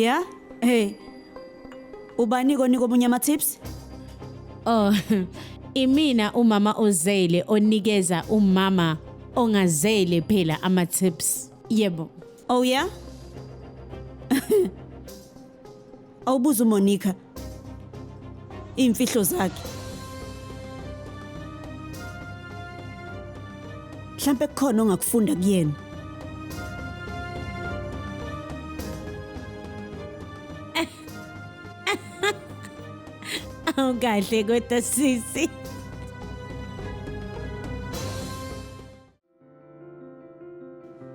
Yeah? Hey. Ubani konika omunye ama tips? Oh, imina umama ozele onikeza umama ongazele phela ama tips. Yebo. Oh yeah? Awubuza uMonica. iy'mfihlo zakhe mhlampe kukhona ongakufunda kuyena awukahle kodwa sisi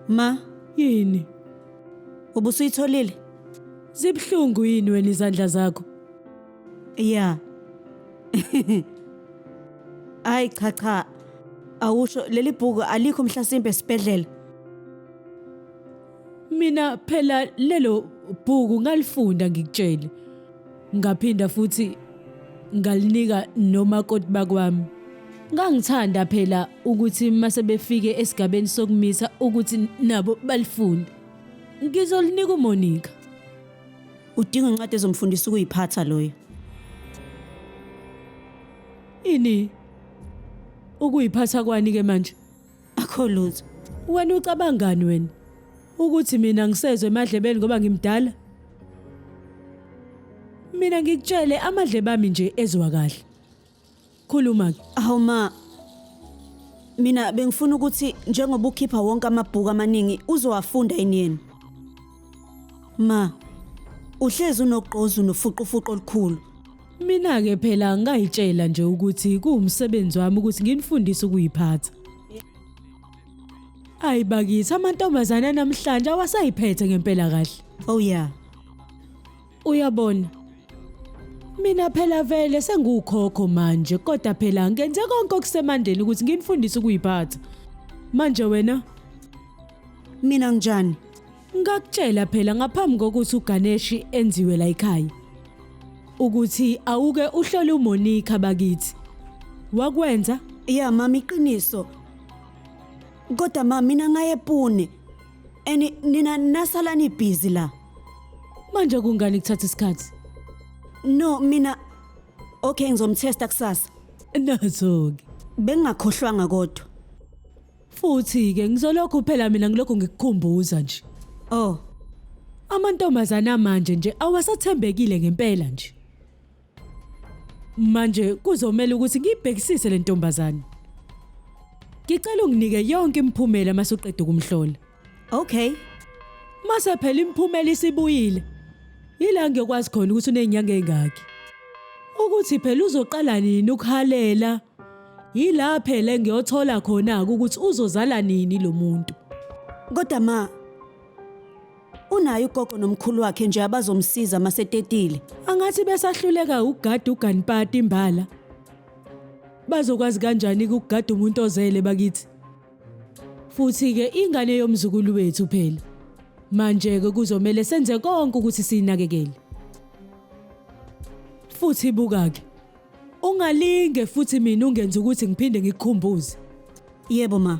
Ma, Yini? ubusuyitholile? Zibuhlungu yini wena izandla zakho? Ya. Hayi cha cha. Awusho leli bhuku alikho mhlasimpe esibhedlela. Mina phela lelo bhuku ngalifunda ngikutshele. Ngaphinda futhi ngalinika nomakoti bakwami. Ngangithanda phela ukuthi mase befike esigabeni sokumisa ukuthi nabo balifunde. Ngizolinika uMonica. Udinga incwadi ezomfundisa ukuyiphatha loyo. Ini? Ukuyiphatha kwani ke manje? akho lutho wena ucabangani wena ukuthi mina ngisezwe emadlebeni ngoba ngimdala mina ngikutshele amadlebe ami nje ezwa kahle khuluma ke Hawu ma. Mina bengifuna ukuthi njengoba ukhipha wonke amabhuku amaningi uzowafunda yini yena? Ma, uhlezi unogqozu nofuqufuqu olukhulu. Mina ke phela ngayitshela nje ukuthi kuwumsebenzi wami ukuthi nginifundise ukuyiphatha. Ayi bakithi amantombazane namhlanje awasayiphethe ngempela kahle. Oh yeah. Uyabona? Mina phela vele sengukhokho manje kodwa phela ngenze konke okusemandeni ukuthi nginifundise ukuyiphatha. Manje wena Mina nginjani? ngakutshela phela ngaphambi kokuthi uGaneshi enziwe la ekhaya ukuthi awuke uhlole uMonica bakithi. Wakwenza Ya mama iqiniso. Kodwa mama mina ngaye Pune. And nina nasalani busy la. Manje kungani kuthatha isikhathi? No, mina Okay, ngizomtesta kusasa. Nazo-ke. Bengingakhohlwanga kodwa. Futhi-ke ngizolokhu phela mina ngilokhu ngikukhumbuza nje. Oh. Amantombazana manje nje awasathembekile ngempela nje. Manje kuzomela ukuthi ngiyibhekisise le ntombazane. Ngicela unginike yonke imiphumela masuqeda ukumhlola. Okay. Mase phela imiphumela isibuyile. Yila ngiyokwazi khona ukuthi unezinyanga ezingaki. Ukuthi phela uzoqala nini ukuhalela. Yila phela engiyothola khona ukuthi uzozala nini lo muntu. Kodwa ma, Unayo ugogo nomkhulu wakhe nje abazomsiza masetetile. Angathi besahluleka ukugada uganipati imbala. Bazokwazi kanjani ukugada umuntu ozele bakithi? Futhi ke ingane yomzukulu wethu phela. Manje ke kuzomela senze konke ukuthi sinakekele. Futhi buka ke. Ungalinge futhi mina ungenza ukuthi ngiphinde ngikukhumbuze. Yebo ma.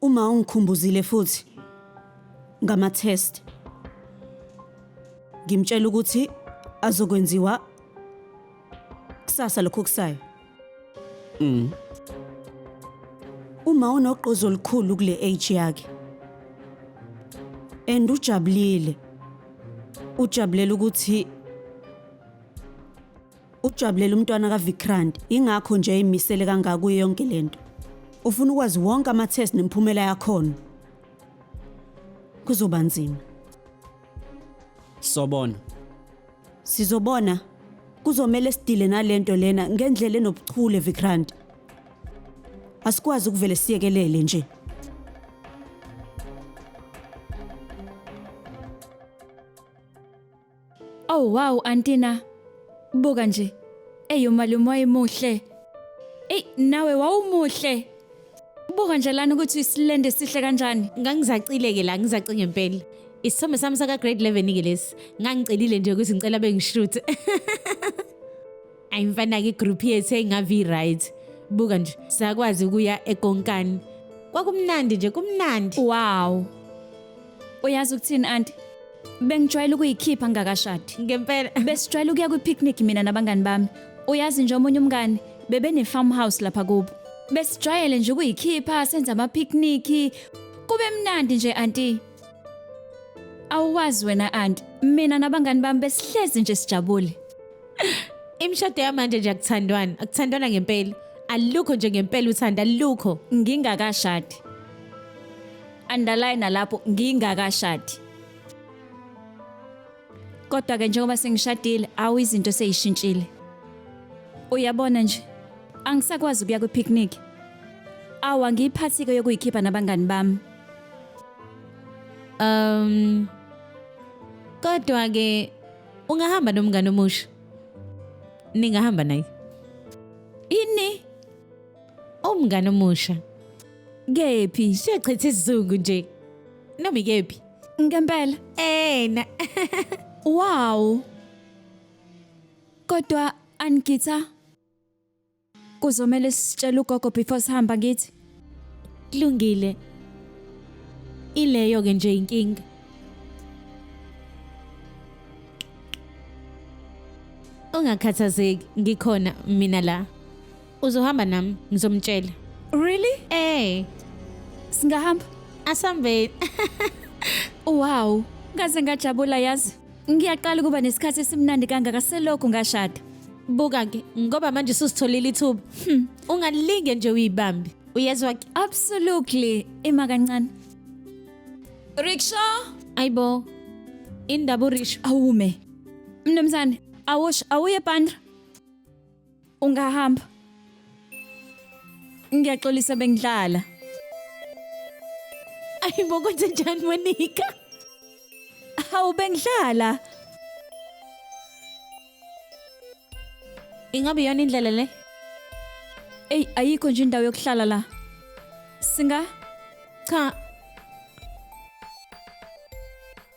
Uma ungikhumbuzile futhi ngama-test ngimtshela ukuthi azokwenziwa kusasa lokho okusayo Mm. uma unogqozi olukhulu kule age yakhe and ujabulile ujabulela ukuthi Ujabulela umntwana kaVikrant, ingakho nje emisele kangaka kuyo yonke lento. Ufuna ukwazi wonke ama-test nemiphumela yakhona. Kuzoba nzima. Sobona. Sizobona. Kuzomele sidile nalento lena ngendlela enobuchule Vikrant. Asikwazi ukuvele siyekelele nje. Oh wow antina. Buka nje. Eyo malume wayemuhle. Ey nawe wawumuhle. Buka nje lana ukuthi isilende sihle kanjani. Ngangizacile ke la ngizace ngempela. Isithombe sami saka grade 11 ke lesi. Ngangicelile nje ukuthi ngicela bengishoot. ayi mfana-ke igroup yethu engavi right buka nje sakwazi ukuya ekonkani kwakumnandi nje kumnandi wow uyazi ukuthini anti bengijwayele ukuyikhipha ngingakashadi ngempela besijwayele ukuya kwi-picnic mina nabangani bami uyazi nje omunye umngani bebene-farm house lapha kubo besijwayele nje ukuyikhipha senza ama-picnic kube mnandi nje anti Awuwazi wena anti, mina nabangani bami besihlezi nje sijabule. Imishado yamanje nje akuthandwana, akuthandwana ngempela. Alukho nje ngempela uthando, alukho. Ngingakashadi. Underline lapho ngingakashadi. Kodwa ke njengoba sengishadile, awu izinto seyishintshile. Uyabona nje, angisakwazi ukuya kwi-picnic. Awu angiyiphathi-ke yokuyikhipha nabangani bami. Um kodwa ke ungahamba nomngane omusha. Ningahamba naye. Ini? Umngane omusha. Kephi? Siyachitha isizungu nje. Nami kephi? Ngempela. Ena. Wow. Kodwa anigitha Kuzomele sitshele ugogo before sihamba ngithi. Kulungile. Ileyo ke nje inkinga. Ungakhathazeki ngikhona mina la. Uzohamba nami ngizomtshela. Really? Eh, Singahamba? asambeni. Wow, ngaze ngajabula yazi. Ngiyaqala ukuba nesikhathi esimnandi kangaka selokhu ngashada. Buka-ke ngoba manje susitholile ithuba. Hmm. Ungalinge nje uyibambe. Uyezwa ke? Absolutely. Ima kancane. Rickshaw. Ayibo. Indaba uRish. Awume. Mnumzane, awush awuye bandra. Ungahamba. Ngiyaxolisa bengidlala. Ay, bo kwenze njani Monica? Hawu bengidlala. Ingabe yona indlela le? Ey, ayikho nje indawo yokuhlala la. Singa? Cha,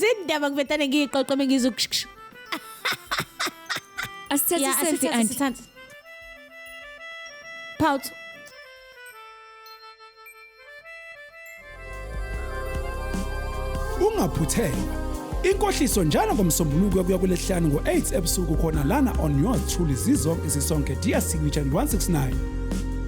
Zindaba kuvetane ngiyiqoqe mengizu. Asithathe Yeah, iselfie asithathe, anti. asithathe. Pout. ungaphuthelwa inkohliso njalo ngomsombuluko kuya kulesihlanu ngo-8 ebusuku khona lana on yours truly zizonke zisonke dear signature and 169